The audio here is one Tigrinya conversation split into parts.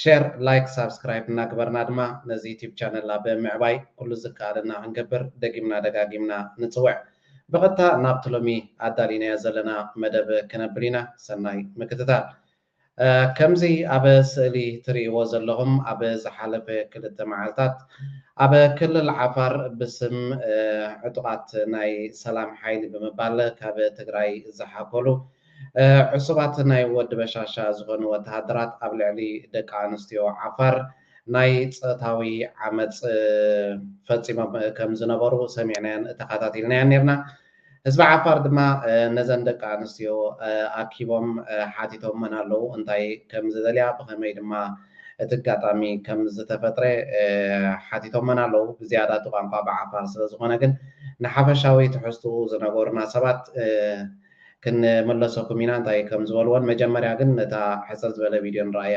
ሸር ላይክ ሳብስክራይብ እናግበርና ድማ ነዚ ዩቲብ ቻነልና ብምዕባይ ኩሉ ዝከኣለና ክንገብር ደጊምና ደጋጊምና ንጽውዕ። ብቐጥታ ናብቲ ሎሚ ኣዳሊናዮ ዘለና መደብ ክነብል ኢና ሰናይ ምክትታል። ከምዚ ኣብ ስእሊ ትርእይዎ ዘለኹም ኣብ ዝሓለፈ ክልተ መዓልታት ኣብ ክልል ዓፋር ብስም ዕጡቓት ናይ ሰላም ሓይሊ ብምባል ካብ ትግራይ ዝሓኮሉ ዕሱባት ናይ ወዲ በሻሻ ዝኾኑ ወተሃደራት ኣብ ልዕሊ ደቂ ኣንስትዮ ዓፋር ናይ ፆታዊ ዓመፅ ፈፂሞም ከም ዝነበሩ ሰሚዕናዮን ተኻታቲልናዮን ኔርና። ህዝቢ ዓፋር ድማ ነዘን ደቂ ኣንስትዮ ኣኪቦም ሓቲቶመን ኣለዉ እንታይ ከም ዝደልያ ብኸመይ ድማ እቲ ኣጋጣሚ ከም ዝተፈጥረ ሓቲቶመን ኣለዉ። ብዝያዳ እቲ ቋንቋ ብዓፋር ስለ ዝኾነ ግን ንሓፈሻዊ ትሕዝትኡ ዝነገሩና ሰባት ክንምለሰኩም ኢና እንታይ ከም ዝበልዎን መጀመርያ ግን ነታ ሕጽር ዝበለ ቪድዮ ንርኣያ።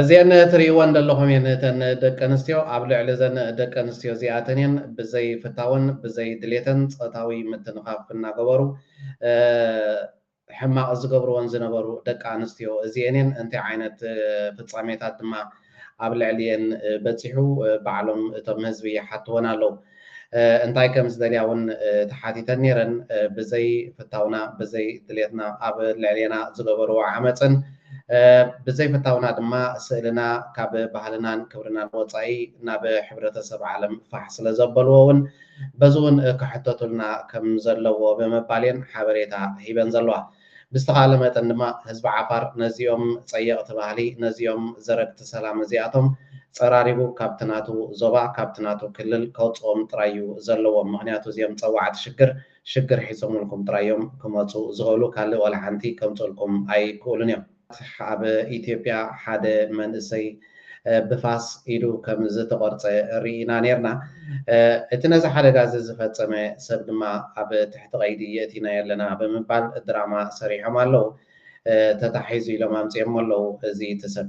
እዚኤን ትሪኢወን ደለኹም እየን እተን ደቂ ኣንስትዮ ኣብ ልዕሊ እዘን ደቂ ኣንስትዮ እዚኣተን እየን ብዘይ ፍታወን ብዘይ ድሌተን ፆታዊ ምትንኻፍ እናገበሩ ሕማቕ ዝገብርወን ዝነበሩ ደቂ ኣንስትዮ እዚኤን እየን እንታይ ዓይነት ፍፃሜታት ድማ ኣብ ልዕሊኤን በፂሑ ባዕሎም እቶም ህዝቢ ይሓትወን ኣለዉ። እንታይ ከም ዝደልያ እውን ተሓቲተን ነይረን። ብዘይ ፍታውና፣ ብዘይ ድሌትና ኣብ ልዕሌና ዝገበርዎ ዓመጽን ብዘይ ፍታውና ድማ ስእልና ካብ ባህልናን ክብርናን ወጻኢ ናብ ሕብረተሰብ ዓለም ፋሕ ስለ ዘበልዎ እውን በዚ እውን ክሕተቱልና ከም ዘለዎ ብምባል እየን ሓበሬታ ሂበን ዘለዋ። ብዝተኻእለ መጠን ድማ ህዝቢ ዓፋር ነዚኦም ጸየቕቲ ባህሊ፣ ነዚኦም ዘረግቲ ሰላም እዚኣቶም ጸራሪጉ ካብቲ ናቱ ዞባ፣ ካብቲ ናቱ ክልል ከውጽኦም ጥራይ እዩ ዘለዎ። ምኽንያቱ እዚኦም ጸዋዕቲ ሽግር፣ ሽግር ሒዞምልኩም ጥራይ እዮም ክመጹ ዝኽእሉ፣ ካልእ ዋላ ሓንቲ ከምጽኡልኩም ኣይክእሉን እዮም። ኣብ ኢትዮጵያ ሓደ መንእሰይ ብፋስ ኢዱ ከም ዝተቖርጸ ርኢና ኔርና። እቲ ነዚ ሓደጋ እዚ ዝፈጸመ ሰብ ድማ ኣብ ትሕቲ ቀይዲ የእቲናዮ ኣለና ብምባል ድራማ ሰሪሖም ኣለዉ። ተታሒዙ ኢሎም ኣምጺኦሞ ኣለዉ እዚ እቲ ሰብ።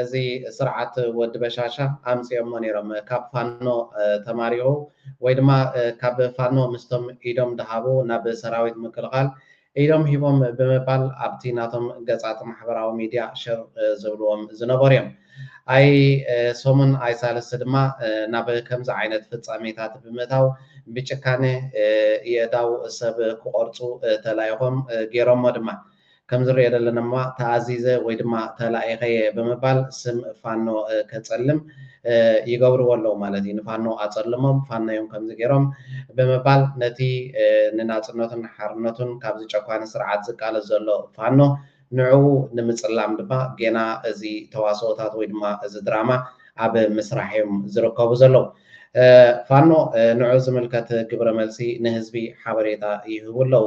እዚ ስርዓት ወዲ በሻሻ ኣምጺኦሞ ኔሮም ካብ ፋኖ ተማሪኹ ወይ ድማ ካብ ፋኖ ምስቶም ኢዶም ድሃቡ ናብ ሰራዊት ምክልኻል ኢዶም ሂቦም ብምባል ኣብቲ ናቶም ገጻት ማሕበራዊ ሚድያ ሽር ዝብልዎም ዝነበሩ እዮም። ኣይ ሰሙን ኣይ ሳልስቲ ድማ ናብ ከምዚ ዓይነት ፍጻሜታት ብምእታው ብጭካነ የእዳው ሰብ ክቖርጹ ተላኢኾም ጌሮሞ ድማ። ከምዝሪኦ ዘለና ድማ ተኣዚዘ ወይ ድማ ተላኢኸ እየ ብምባል ስም ፋኖ ከፀልም ይገብርዎ ኣለዉ ማለት እዩ። ንፋኖ ኣፀልሞም ፋኖ እዮም ከምዚ ገይሮም ብምባል ነቲ ንናፅነቱን ሓርነቱን ካብዚ ጨኳኒ ስርዓት ዝቃለስ ዘሎ ፋኖ ንዕኡ ንምፅላም ድማ ጌና እዚ ተዋስኦታት ወይ ድማ እዚ ድራማ ኣብ ምስራሕ እዮም ዝርከቡ ዘለዉ። ፋኖ ንዕኡ ዝምልከት ግብረ መልሲ ንህዝቢ ሓበሬታ ይህቡ ኣለዉ።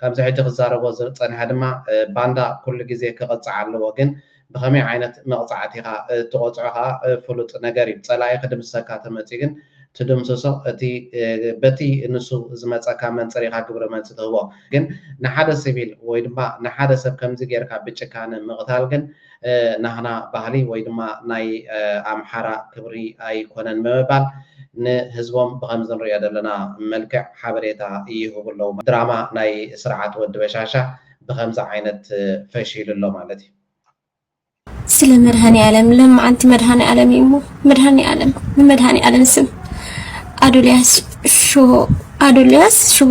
ከምዚ ሕጂ ክዛረቦ ዝጸንሐ ድማ ባንዳ ኩሉ ግዜ ክቅጻዕ ኣለዎ ግን ብከመይ ዓይነት መቅጻዕቲ ኢካ ትቆጽዖ ከኣ ፍሉጥ ነገር እዩ ጸላኢ ክድምስሰካ ተመጽዩ ግን ትድምስሶ እቲ በቲ ንሱ ዝመጸካ መንጽር ኢካ ግብረ መልሲ ትህቦ ግን ንሓደ ሲቪል ወይ ድማ ንሓደ ሰብ ከምዚ ጌርካ ብጭካነ ምቅታል ግን ናህና ባህሊ ወይ ድማ ናይ ኣምሓራ ክብሪ ኣይኮነን ብምባል ንህዝቦም ብኸምዚ ንሪኦ ዘለና መልክዕ ሓበሬታ ይህቡ ኣለዉ። ድራማ ናይ ስርዓት ወዲ በሻሻ ብኸምዚ ዓይነት ፈሺሉ ኣሎ ማለት እዩ። ስለ መድሃኒኣለም ለማዓንቲ መድሃኒኣለም እዩ እሞ መድሃኒኣለም ብመድሃኒኣለም ስም ኣዶልያስ ሽቦ ኣዶልያስ ሽቦ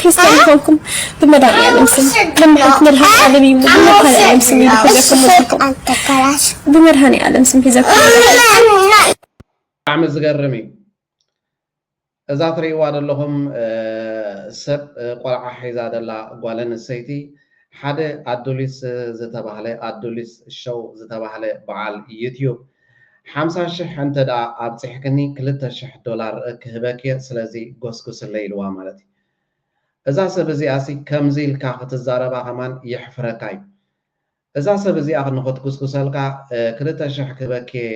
ክርስትያን ይኾንኩም ብመድሃኒኣለም ስም ከመሓንቲ መልሃስ ዓለም እዩ ብመድሃኒኣለም ስም እዩ ሒዘኩም ወሲድኩም ብመድሃኒኣለም ስም ሒዘኩም ብጣዕሚ ዝገርም እዩ እዛ ትርእይዋ ዘለኹም ሰብ ቆልዓ ሒዛ ዘላ ጓል ኣንስተይቲ ሓደ ኣዱሊስ ዝተባህለ ኣዱሊስ ሸው ዝተባህለ በዓል ዩትዩብ ሓምሳ ሽሕ እንተ ደኣ ኣብጺሕክኒ ክልተ ሽሕ ዶላር ክህበኪ'የ ስለዚ ጎስጉስለይ ኢልዋ ማለት እዩ። እዛ ሰብ እዚኣሲ ከምዚ ኢልካ ክትዛረባ ከማን የሕፍረካ እዩ። እዛ ሰብ እዚኣ ንኽትጉስጉሰልካ ክልተ ሽሕ ክህበኪ'የ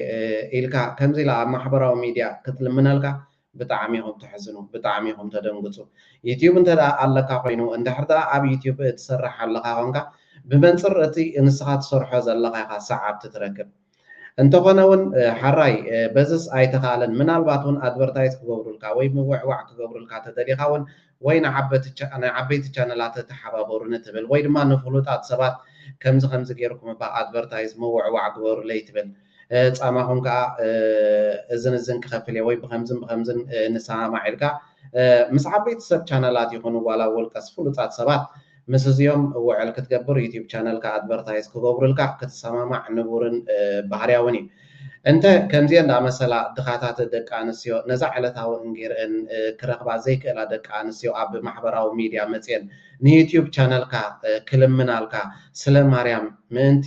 ኢልካ ከምዚ ኢላ ኣብ ማሕበራዊ ሚድያ ክትልምነልካ ብጣዕሚ ኢኹም ተሕዝኑ ብጣዕሚ ኢኹም ተደንግጹ። ዩትዩብ እንተ ደኣ ኣለካ ኮይኑ እንድሕር ደኣ ኣብ ዩትዩብ ትሰርሕ ኣለኻ ኮንካ ብመንጽር እቲ ንስኻ ትሰርሖ ዘለኻ ኢኻ ሰዓብቲ ትረክብ። እንተኾነ ውን ሐራይ በዝስ ኣይተኻእለን ምናልባት ውን ኣድቨርታይዝ ክገብሩልካ ወይ ምውዕዋዕ ክገብሩልካ ተደሊኻ ውን ወይ ንዓበይቲ ቻነላተ ተሓባበሩኒ ትብል ወይ ድማ ንፍሉጣት ሰባት ከምዚ ከምዚ ጌርኩም እባ ኣድቨርታይዝ ምውዕዋዕ ግበሩለይ ትብል ጻማኹም ከኣ እዝን እዝን ክኸፍል እየ ወይ ብኸምዝን ብኸምዝን ንሰማማዕ ኢልካ ምስ ዓበይቲ ሰብ ቻነላት ይኹኑ ዋላ ውልቀስ ፍሉጣት ሰባት ምስ እዚኦም ውዕል ክትገብር ዩቱብ ቻነልካ ኣድቨርታይዝ ክገብሩልካ ክትሰማማዕ ንቡርን ባህርያውን እዩ። እንተ ከምዚኤን ዝኣመሰላ ድኻታት ደቂ ኣንስትዮ ነዛ ዕለታዊ እንጌርኤን ክረኽባ ዘይክእላ ደቂ ኣንስትዮ ኣብ ማሕበራዊ ሚድያ መጺኤን ንዩቱብ ቻነልካ ክልምናልካ ስለ ማርያም ምእንቲ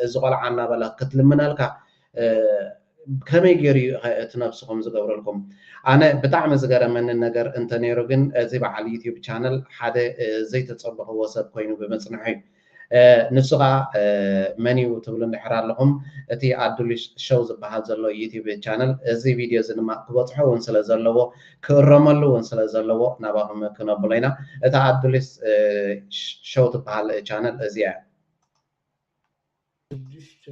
እዚ ቆልዓ እናበለ ክትልምነልካ ከመይ ጌሩ እዩ ከ እቲ ነብስኹም ዝገብረልኩም? ኣነ ብጣዕሚ ዝገረመኒ ነገር እንተ ኔሩ ግን እዚ በዓል ዩቱብ ቻነል ሓደ ዘይተጸበኽዎ ሰብ ኮይኑ ብምጽንሑ እዩ። ንሱ ከኣ መን እዩ ትብሉ እንድሕር ኣለኹም እቲ ኣዱሊሽ ሸው ዝበሃል ዘሎ ዩቱብ ቻነል እዚ ቪድዮ እዚ ድማ ክበጽሖ እውን ስለ ዘለዎ ክእረመሉ እውን ስለ ዘለዎ ናባኹም ክነብሎ ኢና። እታ ኣዱሊስ ሸው ትበሃል ቻነል እዚኣ እያ። ሽዱሽተ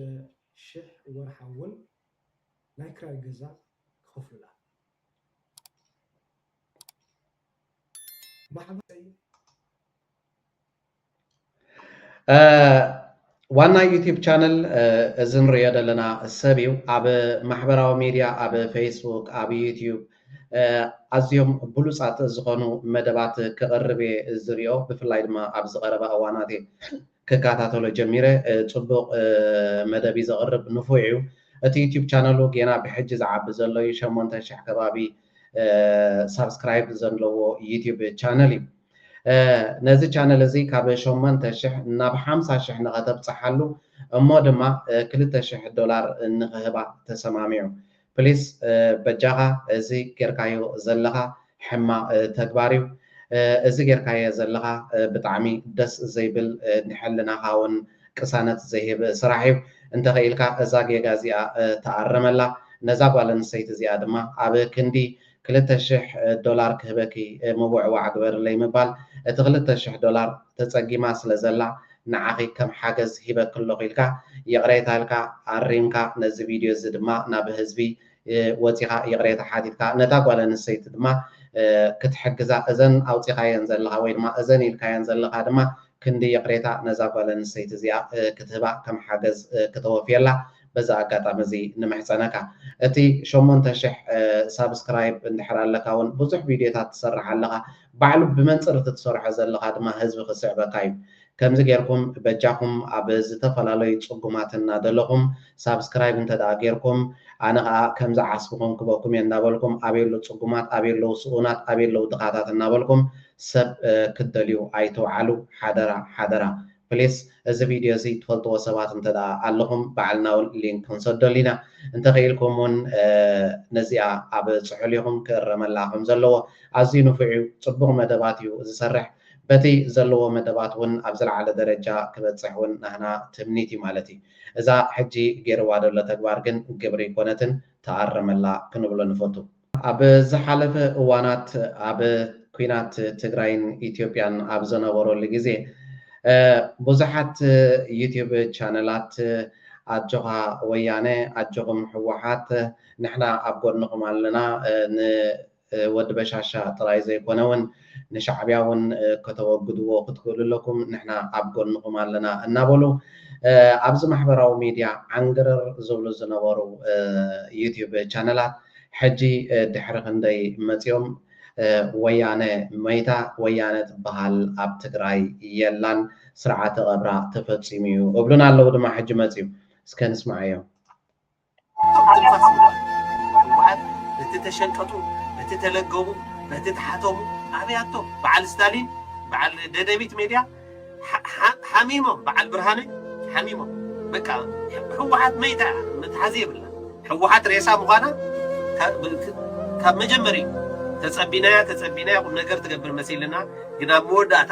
ሽሕ ወርሓውን ናይ ክራይ ገዛ ክኸፍሉላ። ዋና ዩቲብ ቻነል እዚ ንሪኦ ዘለና ሰብ እዩ ኣብ ማሕበራዊ ሚድያ ኣብ ፌስቡክ ኣብ ዩቲብ ኣዝዮም ብሉፃት ዝኾኑ መደባት ክቕርብ እየ ዝሪኦ ብፍላይ ድማ ኣብዚ ቀረባ እዋናት እዩ ክካታተሎ ጀሚረ ጽቡቅ መደብ ዩ ዘቅርብ ንፉዕ ዩ እቲ ዩቱብ ቻነሉ ጌና ብሕጂ ዝዓቢ ዘሎ ዩ ሸሞንተ ሽሕ ከባቢ ሳብስክራይብ ዘለዎ ዩቱብ ቻነል ዩ ነዚ ቻነል እዚ ካብ ሸሞንተ ሽሕ ናብ ሓምሳ ሽሕ ንከተብጽሓሉ እሞ ድማ ክልተ ሽሕ ዶላር ንክህባ ተሰማሚዑ ፕሊስ በጃኻ እዚ ጌርካዮ ዘለኻ ሕማቕ ተግባር እዩ እዚ ጌርካዬ ዘለኻ ብጣዕሚ ደስ ዘይብል ንሕልናኻ ውን ቅሳነት ዘይህብ ስራሕ እዩ እንተ ኽኢልካ እዛ ጌጋ እዚኣ ተኣረመላ ነዛ ጓል ኣንስተይቲ እዚኣ ድማ ኣብ ክንዲ ክልተ ሽሕ ዶላር ክህበኪ ምውዕዋዕ ግበርለይ ምባል እቲ ክልተ ሽሕ ዶላር ተጸጊማ ስለ ዘላ ንዓኺ ከም ሓገዝ ሂበኪ ኣለኹ ኢልካ ይቕሬታ ኢልካ ኣሪምካ ነዚ ቪድዮ እዚ ድማ ናብ ህዝቢ ወጺኻ ይቕሬታ ሓቲትካ ነታ ጓል ኣንስተይቲ ድማ ክትሕግዛ እዘን ኣውጺኻየን ዘለኻ ወይ ድማ እዘን ኢልካየን ዘለኻ ድማ ክንዲ ይቕሬታ ነዛ ጓል ኣንስተይቲ እዚኣ ክትህባ ከም ሓገዝ ክተወፍየላ በዚ ኣጋጣሚ እዚ ንምሕጸነካ። እቲ ሸሞንተ ሽሕ ሳብስክራይብ እንድሕር ኣለካ ውን ብዙሕ ቪድዮታት ትሰርሕ ኣለኻ። ባዕሉ ብመንጽር እቲ ትሰርሖ ዘለኻ ድማ ህዝቢ ክስዕበካ እዩ። ከምዚ ጌርኩም በጃኹም ኣብ ዝተፈላለዩ ጽጉማት እናደለኹም ሳብስክራይብ እንተድኣ ጌርኩም ኣነ ከኣ ከምዚ ዓስብኹም ክበኩም እየ እንዳበልኩም ኣበይ ኣለዉ ጽጉማት ኣበይ ኣለዉ ስኡናት ኣበይ ኣለዉ ድኻታት እናበልኩም ሰብ ክትደልዩ ኣይትውዓሉ ሓደራ ሓደራ። ፕሊስ እዚ ቪድዮ እዚ ትፈልጥዎ ሰባት እንተ ኣለኹም በዓል ናውል ሊንክ ክንሰደሉ ኢና እንተ ኺኢልኩም ውን ነዚኣ ኣብ ጽሑል ኢኹም ክእረመላ ከም ዘለዎ ኣዝዩ ንፉዕ እዩ ጽቡቕ መደባት እዩ ዝሰርሕ በቲ ዘለዎ መደባት ውን ኣብ ዝለዓለ ደረጃ ክበጽሕ ውን ናህና ትምኒት እዩ ማለት እዩ እዛ ሕጂ ጌርዋ ደሎ ተግባር ግን ግብሪ ኣይኮነትን ተኣረመላ ክንብሎ ንፈቱ። ኣብ ዝሓለፈ እዋናት ኣብ ኩናት ትግራይን ኢትዮጵያን ኣብ ዘነበረሉ ግዜ ብዙሓት ዩቱብ ቻነላት ኣጆኻ ወያነ ኣጆኹም ህወሓት ንሕና ኣብ ጎድንኹም ኣለና ንወዲ በሻሻ ጥራይ ዘይኮነ ውን ንሻዕብያ እውን ከተወግድዎ ክትክእሉ ኣለኩም ንሕና ኣብ ጎንኹም ኣለና እናበሉ ኣብዚ ማሕበራዊ ሚድያ ዓንግርር ዝብሉ ዝነበሩ ዩቲዩብ ቻነላት ሕጂ ድሕሪ ክንደይ መፂኦም ወያነ መይታ ወያነ ትበሃል ኣብ ትግራይ የላን ስርዓተ ቀብራ ተፈፂሙ እዩ እብሉና ኣለዉ ድማ ሕጂ መፂኡ እስከ ንስማዓዮም። እቶም ትንፋስ ዝህቡና ህወሓት በቲ ተሸንቀጡ፣ በቲ ተለገቡ፣ በቲ ተሓተሙ ኣበያቶ በዓል ስታሊን በዓል ደደቢት ሜድያ ሓሚሞም በዓል ብርሃነ ሓሚሞም በቃ ህወሓት መይታ እያ መትሓዚ የብላ ህወሓት ሬሳ ምዃና ካብ መጀመሪኡ ተጸቢናያ ተጸቢናያ ቁም ነገር ትገብር መሲልና ግን ኣብ መወዳእታ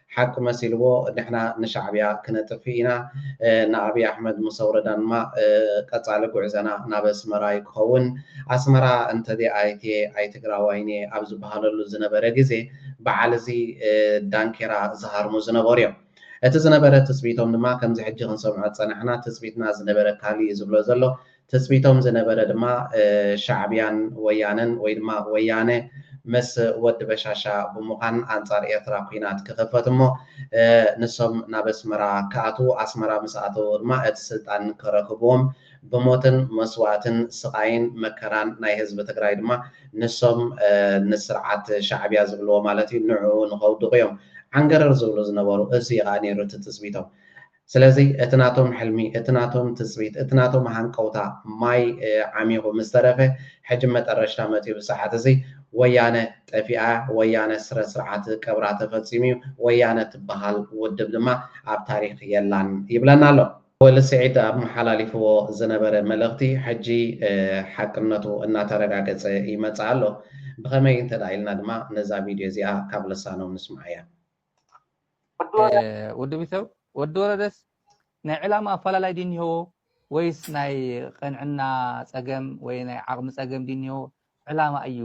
ሓቂ መሲልዎ ንሕና ንሻዕብያ ክነጥፊ ኢና ንኣብይ ኣሕመድ ምስ ኣውረዳ ድማ ቀጻሊ ጉዕዘና ናብ ኣስመራ እዩ ክኸውን ኣስመራ እንተዘይ ኣትየ ኣይትግራዋይን እየ ኣብ ዝብሃለሉ ዝነበረ ግዜ ብዓል እዚ ዳንኬራ ዝሃርሙ ዝነበሩ እዮም እቲ ዝነበረ ትጽቢቶም ድማ ከምዚ ሕጂ ክንሰምዖ ዝጸናሕና ትጽቢትና ዝነበረ ካልእ እዩ ዝብሎ ዘሎ ትጽቢቶም ዝነበረ ድማ ሻዕብያን ወያነን ወይ ድማ ወያነ ምስ ወዲ በሻሻ ብምዃን ኣንጻር ኤርትራ ኲናት ክኽፈት እሞ ንሶም ናብ ኣስመራ ክኣትዉ ኣስመራ ምስ ኣተዉ ድማ እቲ ስልጣን ከረክብዎም ብሞትን መስዋእትን ስቓይን መከራን ናይ ህዝቢ ትግራይ ድማ ንሶም ንስርዓት ሻዕብያ ዝብልዎ ማለት እዩ ንዕኡ ንኸውድቑ እዮም ዓንገረር ዝብሉ ዝነበሩ እዙይ እዩ ኸኣ ነይሩ እቲ ትጽቢቶም ስለዚ እቲ ናቶም ሕልሚ፣ እቲ ናቶም ትጽቢት፣ እቲ ናቶም ሃንቀውታ ማይ ዓሚኹ ምስ ተረፈ፣ ሕጂ መጠረሽታ መጺኡ ብሰዓት እዚ ወያነ ጠፊኣ'ያ፣ ወያነ ስረ ስርዓት ቀብራ ተፈጺሙ'ዩ፣ ወያነ ትበሃል ውድብ ድማ ኣብ ታሪኽ የላን ይብለና ኣሎ። ወሊ ስዒድ ኣመሓላሊፍዎ ዝነበረ መልእኽቲ ሕጂ ሓቅነቱ እናተረጋገጸ ይመጽእ ኣሎ። ብኸመይ እንተድኣ ኢልና ድማ ነዛ ቪድዮ እዚኣ ካብ ልሳኖም ንስምዓያ። ወዲ ቢተው ወዲ ወረደስ ናይ ዕላማ ኣፈላላይ ድዩ እኒሀዎ ወይስ ናይ ቅንዕና ፀገም ወይ ናይ ዓቕሚ ፀገም ድዩ እኒሀዎ ዕላማ እዩ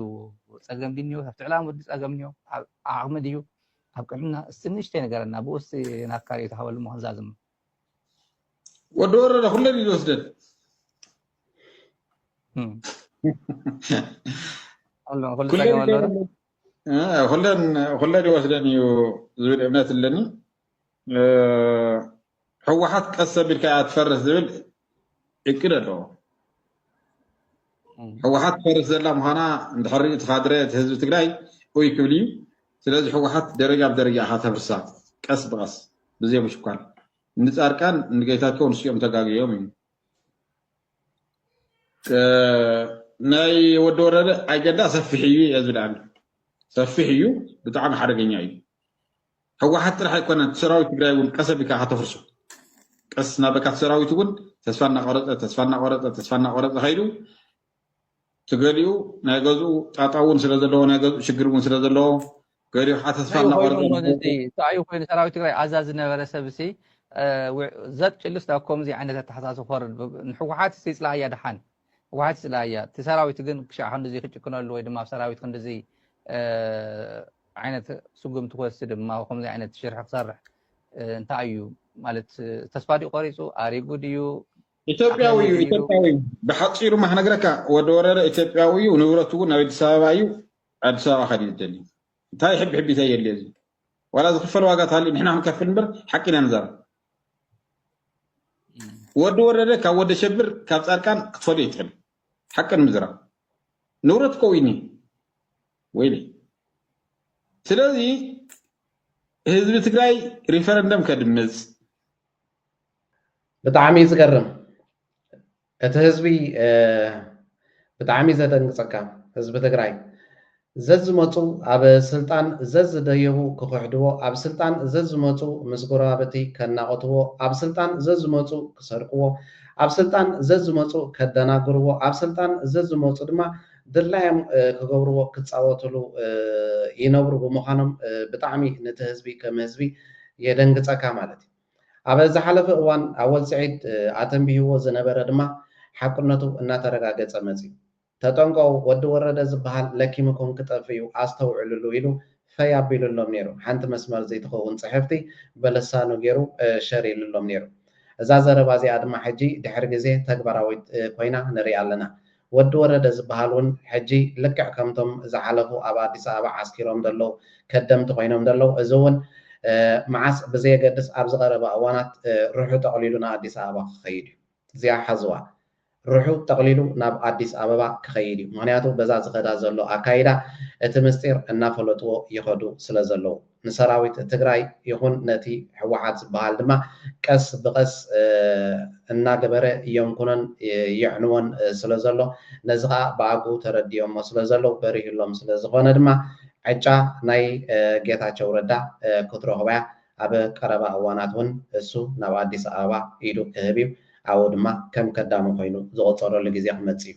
ፀገም ድዩ እኒሀዎ ካብቲ ዕላማ ወዲ ፀገም እኒሆ ኣብ ዓቕሚ ድዩ ኣብ ቅንዕና እስቲ ንእሽተይ ነገረና ብኡስ ናብ ካልእ ተሃበሉ ምክንዛዝም ወዲ ወረደ ኩለን እዩ ዝወስደን ኩሉ ፀገም ኣለዎ ኩለን ይወስደን እዩ ዝብል እምነት ኣለኒ ህወሓት ቀስ ኣቢልካ እያ ትፈርስ ዝብል እቅድ ኣለዎ ህወሓት ትፈርስ ዘላ ምዃና እንድሕሪ እቲ ካድረ እቲ ህዝቢ ትግራይ ኡይ ክብል እዩ ስለዚ ህወሓት ደረጃ ብደረጃ ኢኻ ተፍርሳ ቀስ ብቐስ ብዘይ ምሽኳል ንፃርቃን ንጌታቸው ንስኦም ተጋግዮም እዩ ናይ ወዲ ወረደ ኣይገዳ ሰፊሕ እዩ እየ ዝብልኣኒ ሰፊሕ እዩ ብጣዕሚ ሓደገኛ እዩ ህወሓት ጥራሕ ኣይኮነን ሰራዊት ትግራይ እውን ቀሰ ቢካ ከተፍርሶ ቀስ እናበልካ ሰራዊት እውን ተስፋ እናቆረፀ ተስፋ እናቆረፀ ተስፋ እናቆረፀ ከይዱ ትገሊኡ ናይ ገዝኡ ጣጣ እውን ስለ ዘለዎ ናይ ገዝኡ ሽግር እውን ስለ ዘለዎ ገሪሓ ተስፋ እናቆረፀእንታይእዩ ኮይኑ ሰራዊት ትግራይ ኣዛ ዝነበረ ሰብ ሲ ዘጥ ጭልስ ናብ ከምዚ ዓይነት ኣተሓሳስ ክወርድ ንሕወሓት ይፅላእያ ድሓን ህወሓት ይፅላእያ እቲ ሰራዊት ግን ክሻዕ ክንዲዚ ክጭክነሉ ወይ ድማ ኣብ ሰራዊት ክንዲዚ ዓይነት ስጉምቲ ክወስድ ድማ ከምዚ ዓይነት ሽርሒ ክሰርሕ እንታይ እዩ ማለት ተስፋ ድዩ ቆሪፁ ኣሪጉ ድዩ ኢትዮጵያዊ እዩ ኢትዮጵያዊ ብሓፂሩ ማክነግረካ ወዲ ወረረ ኢትዮጵያዊ እዩ ንብረቱ እውን ኣብ ኣዲስ ኣበባ እዩ ኣዲስ ኣበባ ከድዩ ዝደሊ እንታይ ሕብሕቢታይ የድልዮ እዚ ዋላ ዝኽፈል ዋጋ ተሃልዩ ንሕና ክንከፍል እምበር ሓቂ ኢና ንዛረብ ወዲ ወረደ ካብ ወደ ሸብር ካብ ፃድቃን ክትፈልዮ ይትኽእል ሓቂ ንምዝራብ ንብረት እኮ ዊኒ ወይኒ ስለዚ ህዝቢ ትግራይ ሪፈረንደም ከድምፅ ብጣዕሚ እዩ ዝገርም እቲ ህዝቢ ብጣዕሚ ዘደንግጸካ ህዝቢ ትግራይ ዘዝመጹ ኣብ ስልጣን ዘዝደየቡ ክኽሕድዎ ኣብ ስልጣን ዘዝመጹ ምስ ጎረባብቲ ከናቖትዎ ኣብ ስልጣን ዘዝመጹ ክሰርቅዎ ኣብ ስልጣን ዘዝመጹ ከደናግርዎ ኣብ ስልጣን ዘዝመጹ ድማ ድላዮም ክገብርዎ ክጻወትሉ ይነብሩ ብምዃኖም ብጣዕሚ ንቲ ህዝቢ ከም ህዝቢ የደንግጸካ ማለት እዩ። ኣብ ዝሓለፈ እዋን ኣወል ስዒድ ኣተንቢህዎ ዝነበረ ድማ ሓቅነቱ እናተረጋገፀ መፂኡ። ተጠንቀቑ ወዲ ወረደ ዝበሃል ለኪምኩም ክጠፍእ እዩ ኣስተውዕልሉ ኢሉ ፈይ ኣቢሉሎም ነይሩ። ሓንቲ መስመር ዘይትኸውን ፅሕፍቲ በልሳኑ ገይሩ ሸር ኢሉሎም ነይሩ። እዛ ዘረባ እዚኣ ድማ ሕጂ ድሕሪ ግዜ ተግባራዊት ኮይና ንሪኣ ኣለና። ወዲ ወረደ ዝብሃል ውን ሕጂ ልክዕ ከምቶም ዝሓለፉ ኣብ ኣዲስ ኣበባ ዓስኪሮም ዘለዉ ከደምቲ ኮይኖም ዘለዉ እዚ ውን መዓስ ብዘየገድስ ኣብዚ ቀረባ እዋናት ርሑ ጠቅሊሉ ንኣዲስ ኣበባ ክከይድ እዩ እዚኣ ሓዝዋ ርሑ ጠቅሊሉ ናብ ኣዲስ ኣበባ ክከይድ እዩ ምክንያቱ በዛ ዝከዳ ዘሎ ኣካይዳ እቲ ምስጢር እናፈለጥዎ ይከዱ ስለ ዘለዉ። ንሰራዊት ትግራይ ይኹን ነቲ ህወሓት ዝበሃል ድማ ቀስ ብቐስ እናገበረ የንኩኖን የዕንዎን ስለ ዘሎ ነዚ ኸኣ ብኣግኡ ተረዲኦሞ ስለ ዘለዉ በሪሁሎም ስለ ዝኾነ ድማ ዕጫ ናይ ጌታቸው ረዳ ክትረኽቦ'ያ ኣብ ቀረባ እዋናት እውን እሱ ናብ ኣዲስ ኣበባ ኢዱ ክህብ እዩ ኣብኡ ድማ ከም ከዳሚ ኮይኑ ዝቑጸረሉ ግዜ ክመጽእ እዩ።